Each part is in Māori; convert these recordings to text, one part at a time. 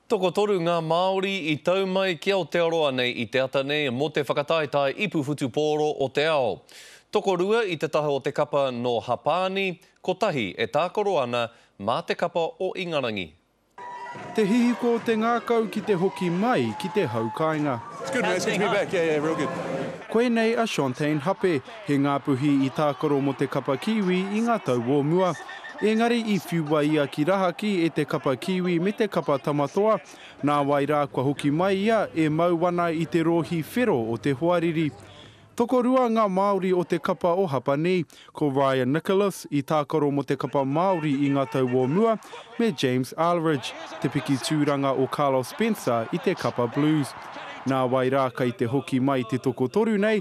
Tokotoru ngā Māori i tau mai ki Aotearoa nei i te ata nei mō te whakataetae ipu whutupōro o te ao. Tokorua i te taha o te kapa nō Hapāni, kotahi e tākaro ana mā te kapa o Ingarangi. Te hihiko o te ngākau ki te hoki mai ki te hau kāinga. Koinei a Chantaine Hape, He ngāpuhi i tākaro mō te kapa kīwī i ngā tau o mua. Ēngari i whiua ia ki rahaki e te kapa kīwī me te kapa tamatoa, nāwai rā kua hoki mai ia e mau ana i te rōhi whero o te hoariri. Tokorua ngā Māori o te kapa o Hapanī, ko Ryan Nicholas i tākaro mō te kapa Māori i ngā tau o mua, me James Arleridge, te piki tūranga o Carlos Spencer i te kapa Blues. Nāwai rā kei te hoki mai te tokotoru nei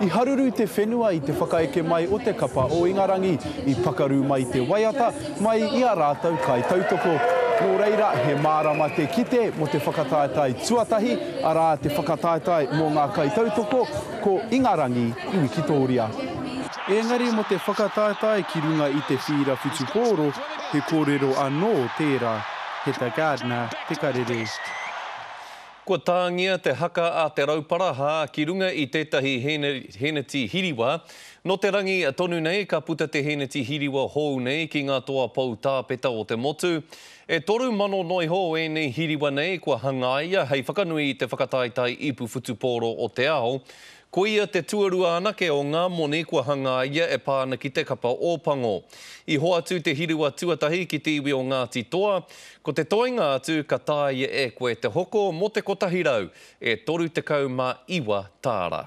I haruru te whenua i te whakaeke mai o te kapa o Ingarangi, i pakaru mai te waiata mai i a rātou kaitautoko. Nō reira, he mārama te kite mō te whakataetae tuatahi, arā, te whakataetae mō ngā kaitautoko ko Ingarangi i Wikitōria. Engari mō te whakataetae ki runga i te whīra whutupōro, he kōrero anō tērā, he ta Gardner te karere. Kua tāngia te haka a Te Rauparaha ki runga i tētahi hēneti hiriwa. Nō te rangi tonu nei ka puta te hēneti hiriwa hou nei ki ngā toa pou tāpeta o te motu. E toru mano noiho ēnei hiriwa nei kua hangaia hei whakanui i te whakataetae ipu whutupōro o te ao. Ko ia te tuarua anake o ngā moni kua hangaia e pā ana ki te kapa Ōpango. I hoatu te hiruwa tuatahi ki te iwi o Ngāti Toa, ko te toenga atu ka tāia e koe te hoko mō te kotahi rau, e toru tekau mā iwa tāra.